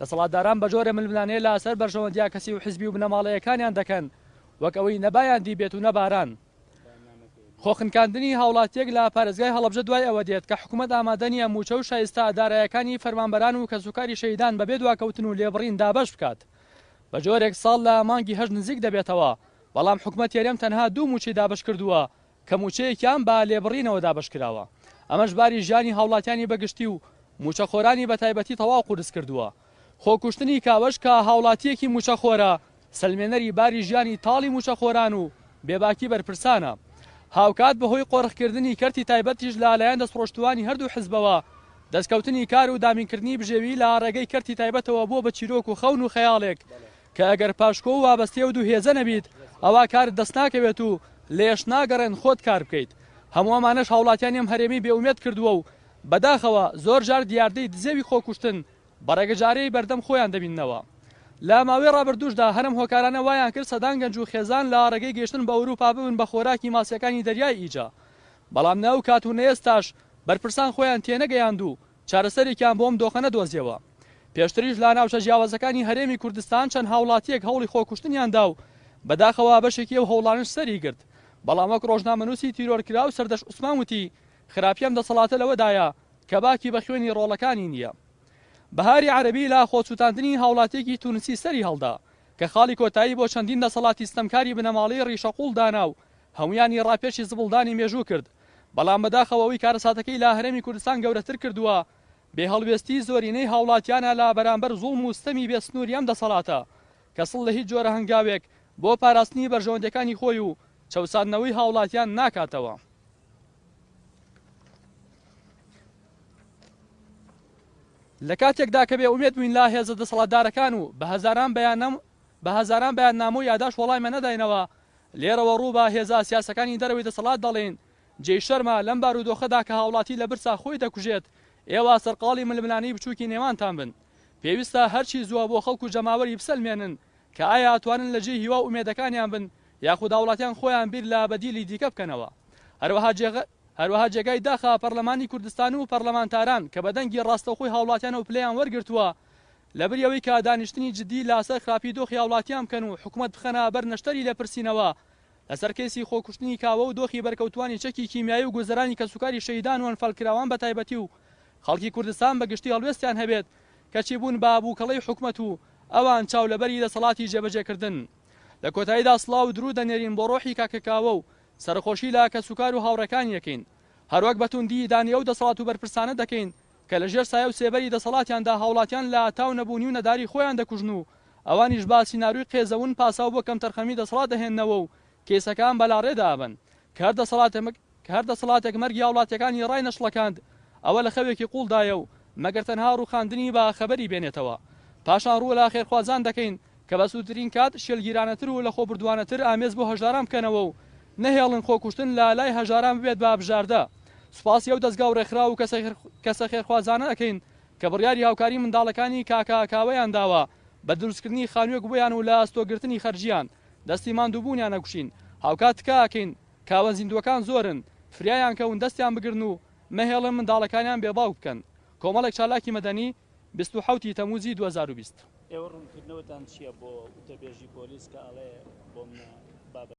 دەسەڵاتداران بەجۆرە ململانێ لە سەر بەرژەوەندیە کەسی و حزبی و بنەماڵەیەکانیان دەکەن وەک ئەوەی نە بایان دیبێت و نە باران. خۆ خنکاندنی هاوڵاتیەک لە پارێزگای هەڵەبجە دوای ئەوە دێت کە حکومەت ئامادە نیە موچە و شایستە دارایەکانی فەرمانبەران و کەسوکاری شەهیدان بەبێ دواکەوتن و لێبڕین دابەش بکات بەجۆرێک ساڵ لە مانگی هەشت نزیک دەبێتەوە بەڵام حکومەتی هەرێم تەنها دوو موچەی دابەش کردوە کە مووچەیەکیان بە لێبڕینەوە دابەشکراوە، ئەمەش باری ژیانی هاوڵاتیانی بەگشتی و مووچەخۆرانی بەتایبەتی تەواو قورسکردووە، خۆکوشتنی کاوەش کە هاوڵاتییەکی مووچەخۆرە، سەلمێنەری باری ژیانی تاڵی مووچەخۆران و بێباکی بەرپرسانە، هاوکات بەهۆی قۆرخکردنی کەرتی تایبەتیش لە لایەن دەستڕۆشتووانی هەردوو حزبەوە، دەستکەوتنی کار و دابینکردنی بژێوی لە ڕێگەی کەرتی تایبەتەوە بووە بە چیرۆک و خەون و خەیاڵێک کە ئەگەر پاشکۆ و وابەستەی ئەو دوو هێزە نەبیت ئەوا کارت دەست ناکەوێت و لێش ناگەڕێن خۆت کار بکەیت، هەموو ئەمانەش هاوڵاتیانی ئەم هەرێمی بێ ئومێد کردووە و بەداخەوە زۆر جار دیاردەی دزێوی خۆکوشتن بە ڕێگەجارەی بەردەم خۆیان دەبیننەوە. لە ماوەی ڕابردووشدا هەر ئەم هۆکارانە وایان کرد سەدان گەنج و خێزان لە ڕێگەی گەیشتن بە ئەوروپا ببن بە خۆراکی ماسییەکانی دەریای ئیجە، بەڵام نە ئەو کات و نە ئێستاش بەرپرسان خۆیان تێنەگەیاند و چارەسەرێکیان بۆ ئەم دۆخە نەدۆزیەوە. پێشتریش لا ناوچە جیاوازەکانی هەرێمی کوردستان چەند هاوڵاتیەک هەوڵی خۆکوشتنیان دا و بەداخەوە بەشێکی ئەو هەوڵانەش سەری گرت. بەڵام وەک ڕۆژنامەنووسی تیرۆرکراو سەردەشت عوسمان وتی، خراپی ئەم دەسەڵاتە لەوەدایە کە باکی بە خوێنی ڕۆڵەکانی نیە. بەهاری عەرەبی لا خۆسوتاندنی هاوڵاتیەکی تونسی سەری هەڵدا کە خاڵی کۆتایی بۆ چەندین دەسەڵاتی ستەمکاری بنەماڵەی ڕیشەقوڵ دانا و هەموویانی ڕاپێچی زبڵدانی مێژوو کرد. بەڵام بەداخەوە ئەوەی کارەساتەکەی لە هەرێمی کوردستان گەورەتر کردووە، بێ هەڵوێستیی زۆرینەی هاوڵاتیانە لە بەرامبەر زوڵم و ستەمی بێ سنووری ئەم دەسەڵاتە، کە سڵ لە هیچ جۆرە هەنگاوێک بۆ پاراستنی بەرژەوەندییەکانی خۆی و چەوساندنەوەی هاوڵاتیان ناکاتەوە. لە کاتێکدا کە بێ ئومێد بووین لە هێزە دەسەڵاتدارەکان و بە هەزاران بەیاننامە و یاداشت وەڵامیان نەداینەوە، لێرەوە ڕوو بە هێزە سیاسەکانی دەرەوەی دەسەڵات دەڵێین، جێی شەرمە لەم بارودۆخەدا کە هاوڵاتی لە برسا خۆی دەکوژێت، ئێوە سەرقاڵی ململانێی بچووکی نێوانتان بن. پێویستە هەرچی زووە بۆ خەڵک و جەماوەری بسەلمێنن کە ئایا ئەتوانن لە جێی هیوا و ئومێدەکانیان بن یاخود هاوڵاتیان خۆیان بیر لە بەدیلی دیکە بکەنەوە. هەروەها جێگە هەروەها جێگای داخە پەرلەمانی کوردستان و پەرلەمانتاران کە بە دەنگی ڕاستەوخۆی هاوڵاتیانەوە پلەیان وەرگرتووە، لەبری ئەوەی کە دانیشتنی جدی لاسەر خراپی دۆخی هاوڵاتیان بکەن و حکومەت بخەنە بەر نەشتەری لێپرسینەوە لەسەر کەیسی خۆکوشتنی کاوە و دۆخی بەرکەوتوانی چەکی کیمیایی و گوزەرانی کەسوکاری شەهیدان و ئەنفالکراوان بەتایبەتی و خەڵکی کوردستان بەگشتی هەڵوێستیان هەبێت کەچی بوون بە بوکەڵەی حکومەت و ئەوان چاو لەبەری دەسەڵاتی جێبەجێ کردن. لە کۆتاییدا سڵاو و دروود دەنێرین بۆ ڕۆحی کاکە کاوە و سەرەخۆشی لە کەسوکار و هاوڕێکانی ئەکەین. هەروەک بە توندی ئیدانەی ئەو دەسەڵات و بەرپرسانە دەکەین کە لە ژێر سایە و سێبەری دەسەڵاتیاندا هاوڵاتیان لە تاو نەبوونی و نەداری خۆیان دەکوژن و ئەوانیش بە سیناروی قێزەون پاساو بۆ کەمتەرخەمی دەسەڵات دەهێننەوە و کەیسەکان بەلاڕێدا ئەبەن کە هەر دەسەڵاتێک کە هەر دەسەڵاتێک مەرگی هاوڵاتیەکانی ڕای نەشڵەکاند ئەوە لە خەوێکی قوڵدایە و مەگەر تەنها ڕوخاندنی بە خەبەری بێنێتەوە پاشان ڕوو لە خێرخوازان دەکەین کە بە سوورترین کات شێلگیرانەتر و لەخۆبوردوانەتر ئامێز بۆ هەژاران بکەنەوە و نەهێڵن خۆکوشتن لە لای هەژاران ببێت بە بژاردە. سوپاسی ئەو دەزگا و ڕێکخراو و کەسە خێرخوازانە ئەکەین کە بڕیاری هاوکاری منداڵەکانی کاکە کاوەیان داوە بە دروستکردنی خانووێک بۆیان و لە ئەستۆگرتنی خەرجیان دەستی ماندووبوونیان ئەگوشین هاوکات تکا ئەکەین کاوە زیندووەکان زۆرن فریایان کەون دەستیان بگرن و مەهێڵن منداڵەکانیان بێ باوک بکەن کۆمەڵێک چالاکی مەدەنی بیست و حەوت ی تەمووزی دوو هەزار و بیست. ئێوە ڕوونکردنەوەتان چیە بۆ وتەبێژی پۆلیس کە ئەڵێ بۆمنە بابەتەکە؟